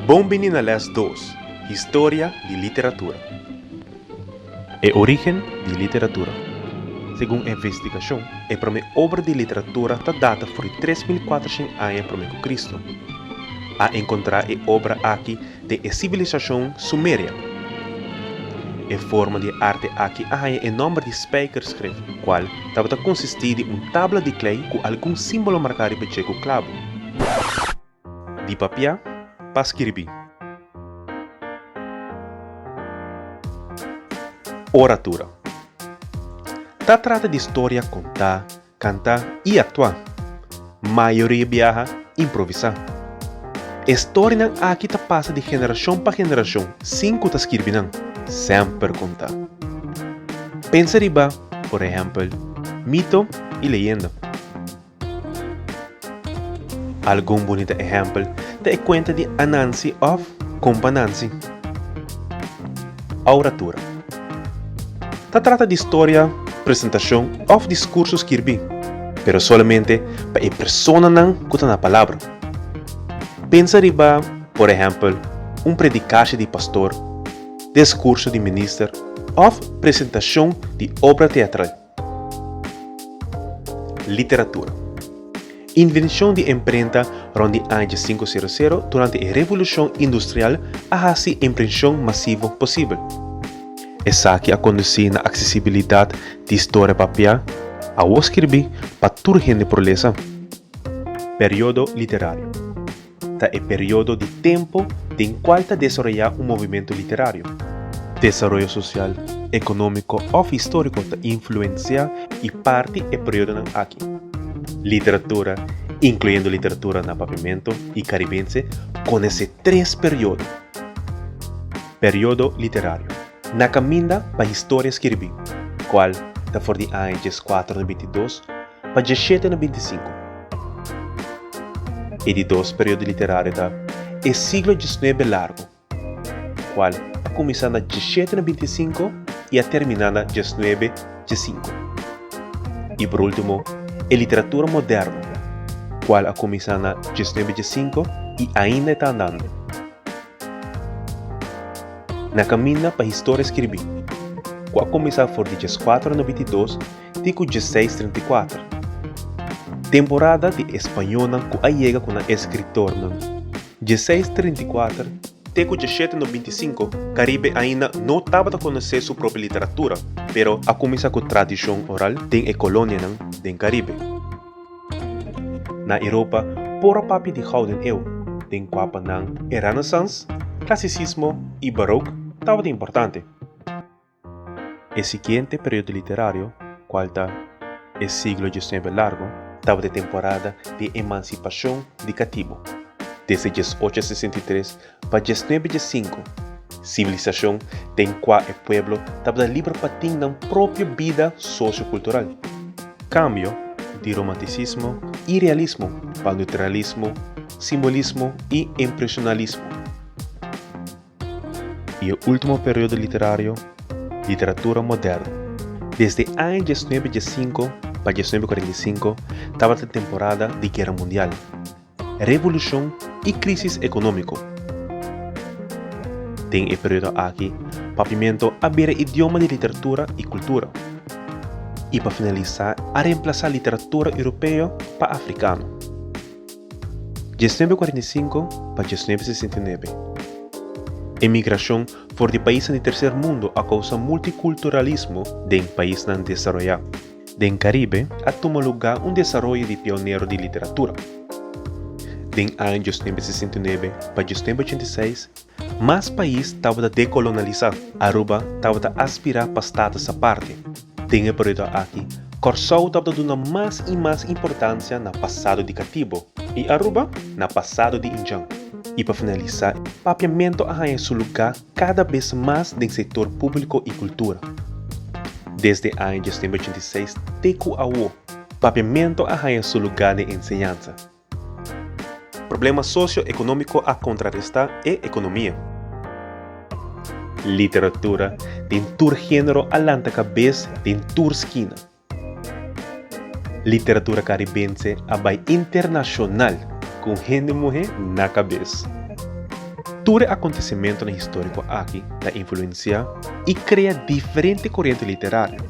Bon bini na les dos, Historia di literatura. E origen di literatura. Segun e investigacion, e prome obra di literatura ta data for di tres mil cuatrocienc aña prome cu Cristo. A encontra e obra aki den e sibilisashon Sumeria. E forma di e arte aki a haña e nòmber di spijkerschrift, kual tabata konsistí di un tabla di klei ku algun símbolo marká riba dje ku klabu di papiá pa skirbí. Oratura Ta trata di storia kontá Kantá i aktuá. Mayoria biaha improvisá. E storinan aki ta pasa di generashon pa generashon sin ku ta skirbi nan, semper kontá. Pensa riba, por ehèmpel, mito i leyenda. Algun bunita ehèmpel ta e kuenta di Anansi òf Kumpa Nansi. Ouratura. Ta trata di storia, presentashon òf diskurso skirbí, pero solamente pa e personanan ku ta na palabra. Pensa riba, por ehèmpel, un predikasha di pastor, deskurso di minister òf presentashon di obra teatral. Literatura Invenshon di imprenta rond di aña dje sinku sero sero durante e Revolushon Industrial a hasi imprenshon masivo posibel. Esaki a kondusí na aksesibilidat di storia papiá awor skirbí pa tur hende por lesa. Periodo literario. Ta e periodo di tempu den cual ta desaroya un movimento literario. Desaroyo social, economico of historico ta influencia y parti e periodonan aki. Literatura, incluyendo literatura na Papiamento y Caribense, conece tres periodo. Periodo literario, na caminda pa historia skirbi, cual ta for di aña diescuatro na bintidos, pa dje shete na binti sinku. E di dos periodo literario ta E siglo djisnuebe largu, ku kual a kuminsá na dje shete na binti sinku i a terminá na dje snuebe dje sinku. I por último E literatura moderno, kual a kuminsá na dje snuebe dje sinku i ainda e ta andando. Na kaminda pa historia skirbí, ku a kuminsá for di dje skuatro na binti dos, ti ku djeseis trenta i kuater. Temporada di españonan ku a yega ku nan eskritornan, djeseis trenta i kuater, te ku djeshete nobinta i sinku Karibe ainda no tabata konosé su propi literatura pero a kuminsá ku tradishon oral den e kolonianan den Karibe. Na Europa por a papia di Gouden Eeuw den kua pa nan e Renaissance, Clasicismo i Baroque tabata importante. E siguiente periodo literario, cual ta E siglo diecinuebe largo, tabata e temporada di e emancipacion di catibo. Desde diesocho a sesenta i tres pa diesnuebe diesinco, civilisacion den cua e pueblo tabata liber pa tin nan propio bida socio-cultural. Cambio di romanticismo y realismo pa neutralismo, simbolismo y impresionalismo. E último periodo literario, literatura moderno. Desde e aña diesnuebe diessinko pa diesnuebe kuarenta i sinku tabata temporada di guera mundial, revolushon i krísis ekonómiko. Den e periodo aki Papiamento a bira idioma di literatura i kultura, i pa finalisá a remplasá literatura europeo pa afrikano. Djesnuebe kuarenta i sinku pa djesnuebe sesenta i nuebe, Emigrashon for di paisnan di Terser Mundu a kousa multikulturalismo den paisnan desaroyá. Den Karibe a tuma lugá un desaroyo di pionero di literatura. Den aña djesnuebe sesenta i nuebe pa djesnuebe ochenta i seis, Mas pais tabata dekolonalisá, Aruba tabata aspirá pa status aparte. Den e periodo aki, Kòrsou tabata duna mas i mas importansia na pasado di katibo, i Aruba na pasado di Injan. I pa finalisá, Papiamentu a haña su lugá kada bes mas den sektor públiko i kultura. Desde aña dies mil novecientos ochenta i seis te ku awo, Papiamentu a haña su lugá den enseñansa. Problema socio-economico a contraresta e economia. Literatura den tur genero a lanta cabes den tur skina. Literatura caribense a bay internacional con hende muhe na cabes. Tur e acontecimentonan historico aki ta influencia y crea diferente corriente literario.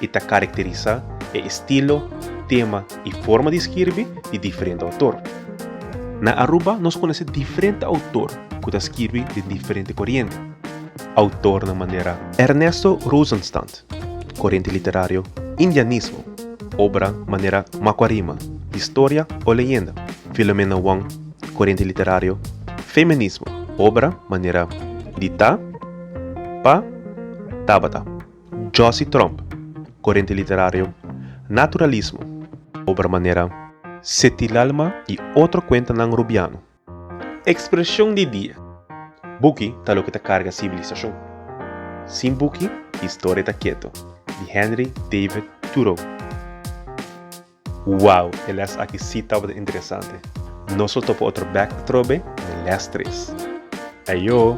i ta karakterisá e estilo, tema i forma di skirbi di diferente outor. Na Aruba nos konose diferente outor ku ta skirbi den diferente koriente. Outornan manera. Ernesto Rosenstand, koriente literario Indianismo, obra manera Makuarima, historia o leyenda, Filomena Wong, koriente literario Feminismo, obra manera Di ta, pa, tabata. Josie Tromp, Corriente Literario, Naturalismo, obra manera Setilalma y otro cuentanan Rubiano. Expresión di dia, Buki ta loke ta carga civilisacion. Sin buki, historia ta keto, di Henry David Thoreau. Wow, e les aki si tabata interesante! Nos lo topa otro bek atrobe den les tres. Eyo!